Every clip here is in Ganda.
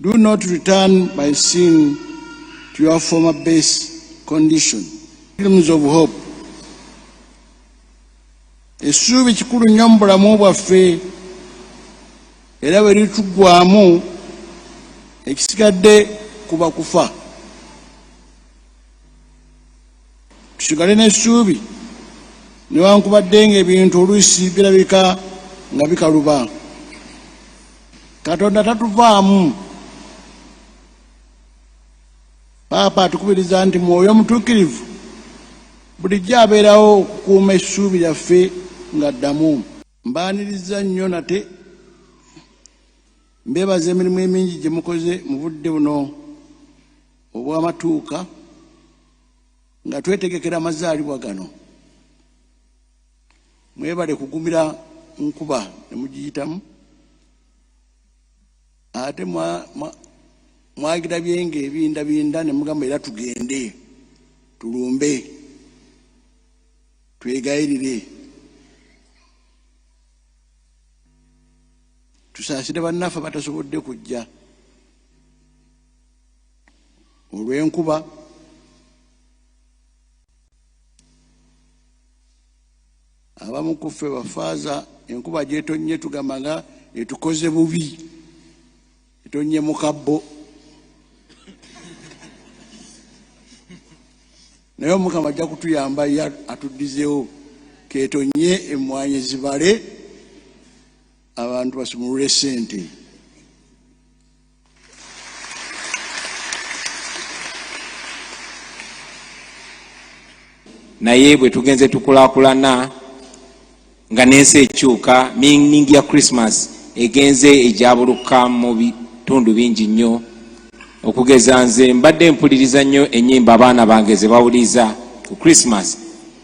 Do not return by sin to your former base condition. Pilgrims of Hope. Essuubi kikulu nnyo mu bulamu bwaffe era bwe lituggwamu ekisigadde kuba kufa. Tusigale n'essuubi newankubadde ng'ebintu oluusi birabika nga bikaluba. Katonda tatuvaamu. Paapa atukubiriza nti Mwoyo Mutuukirivu bulijjo abeerawo okukuuma essuubi lyaffe nga ddamu. Mbaaniriza nnyo nate mbeebaza emirimu emingi gye mukoze mu budde buno. obw'amatuuka nga twetegekera amazaalibwa gano mwebale kugumira nkuba ne mugiyitamu ate mwagira byenge ebindabinda ne mugamba era tugende tulumbe twegayirire tusaasire bannaffe batasobodde kujja olw'enkuba abamu ku ffe bafaaza enkuba gyetonnye tugamba nga etukoze bubi etonnye mu kabbo naye omukama ajja kutuyamba ye atuddizeewo ketonye emmwanyi zibale abantu basumulule sente naye bwe tugenze tukulakulana nga n'ensi ekyuka mining ya christmas egenze egyabuluka mu bitundu bingi nnyo okugeza nze mbadde mpuliriza nnyo ennyimba abaana bange ze bawuliriza ku christmas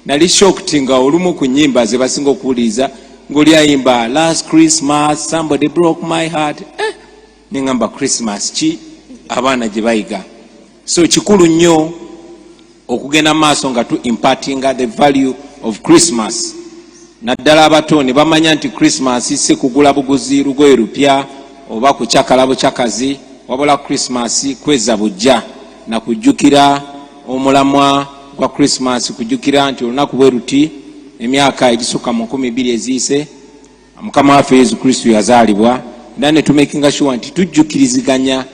Nali shocked nga olumu ku nyimba ze basinga okuwuliriza ng'oli ayimba last Christmas somebody broke my heart eh, nengamba Christmas ki abaana gye bayiga so kikulu nnyo okugenda maaso nga tu impartinga the value of Christmas naddala abato ne bamanya nti Christmas si kugula buguzi lugoye lupya oba kucakala bucakazi wabula Christmas kweza bujja na kujjukira omulamwa gwa Christmas kujukira nti olunaku bwe luti emyaka egisukka mu nkumi bbiri eziyise mukama waffe yesu kristo yazaalibwa era netumakinga shuwa nti tujjukiriziganya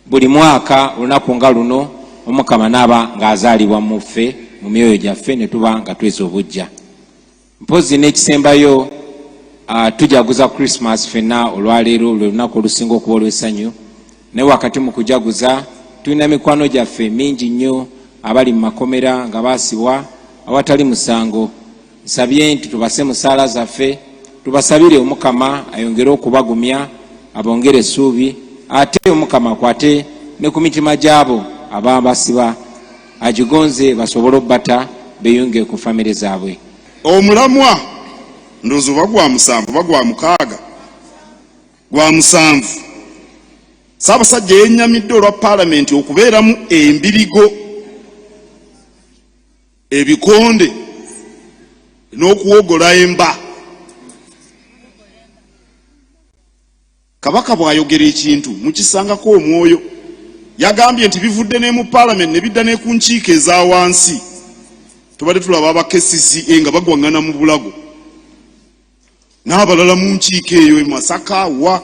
buli mwaka olunaku nga luno omukama naaba ng'azaalibwa muffe mu myoyo gyaffe netuba nga tweza obujja mpozi n'ekisembayo uh, tujaguza christmas fenna olwaleero lwe lunaku olusinga okuba olw'essanyu naye wakati mu kujaguza tulina mikwano gyaffe mingi nnyo abali mu makomera nga baasibwa awatali musango nsabye nti tubase mu saala zaffe tubasabire omukama ayongere okubagumya abongere essuubi ate omukama akwate ne ku mitima gy'abo ababasiba agigonze basobole obbata beyunge ku famire zaabwe. Omulamwa ndowooza oba gwa musanvu oba gwa mukaaga gwa musanvu Ssaabasajja yennyamidde olwa Palamenti okubeeramu embirigo ebikonde n'okuwogola emba. Kabaka bw'ayogera ekintu mukisangako omwoyo. Yagambye nti bivudde ne mu paalamenti ne bidda ne ku nkiiko eza wansi. Tubadde tulaba aba KCCA nga bagwang'ana mu bulago n'abalala mu nkiiko eyo e Masaka wa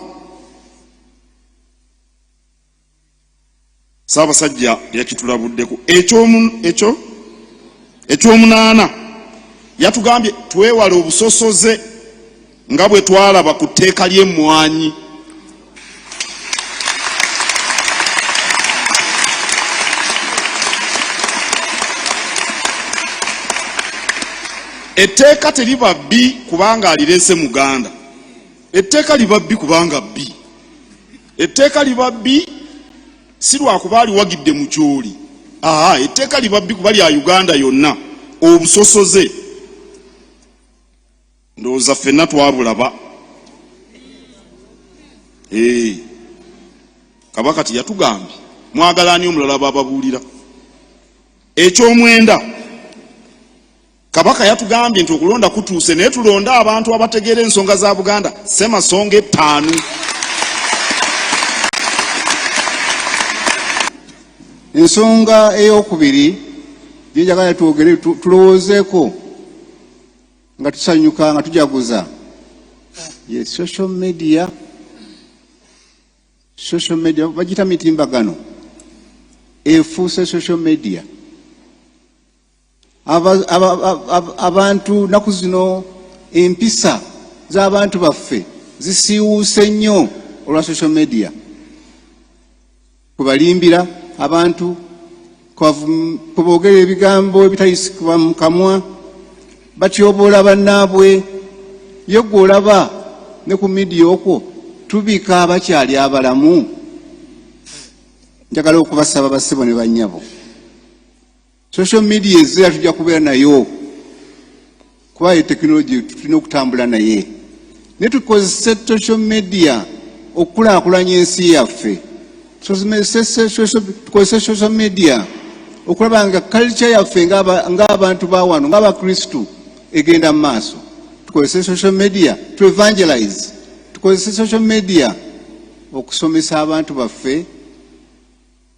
Ssaabasajja yakitulabuddeko. Ekyomunaana, yatugambye twewale obusosoze nga bwe twalaba ku tteeka ly'emmwanyi. Etteeka teriba bbi kubanga alireese muganda, etteeka liba bbi kubanga bbi. etteeka liba bbi si lwakuba aliwagidde mu gyoli aa etteeka liba bbi kuba lya uganda yonna obusosoze ndowooza ffenna twabulaba ee kabaka tiyatugambye mwagala ani omulala bababuulira ekyomwenda Kabaka yatugambye nti okulonda kutuuse naye tulonde abantu abategeera ensonga za Buganda ssemasonga ettaanu. Ensonga ey'okubiri gye njagala twogere tulowoozeeko nga tusanyuka nga tujaguza ye social media social media bagiyita mitimbagano efuuse social media abantu naku zino empisa z'abantu baffe zisiiwuuse nnyo olwa social media kubalimbira abantu kuboogera ebigambo ebitayisikibwa mu kamwa batyoboola bannaabwe ye gwe olaba ne ku midiya okwo tubika abakyali abalamu njagala okubasaba basebo ne bannyabo Social media ezira tujja kubeera nayo kuba ye tekinologi tulina okutambula naye naye tukozese social media okukulaakulanya ensi yaffe tukozese social media okulaba nga culture yaffe ng'abantu ba wano ng'abakristu egenda mu maaso tukozese social media to evangelize tukozese social media okusomesa abantu baffe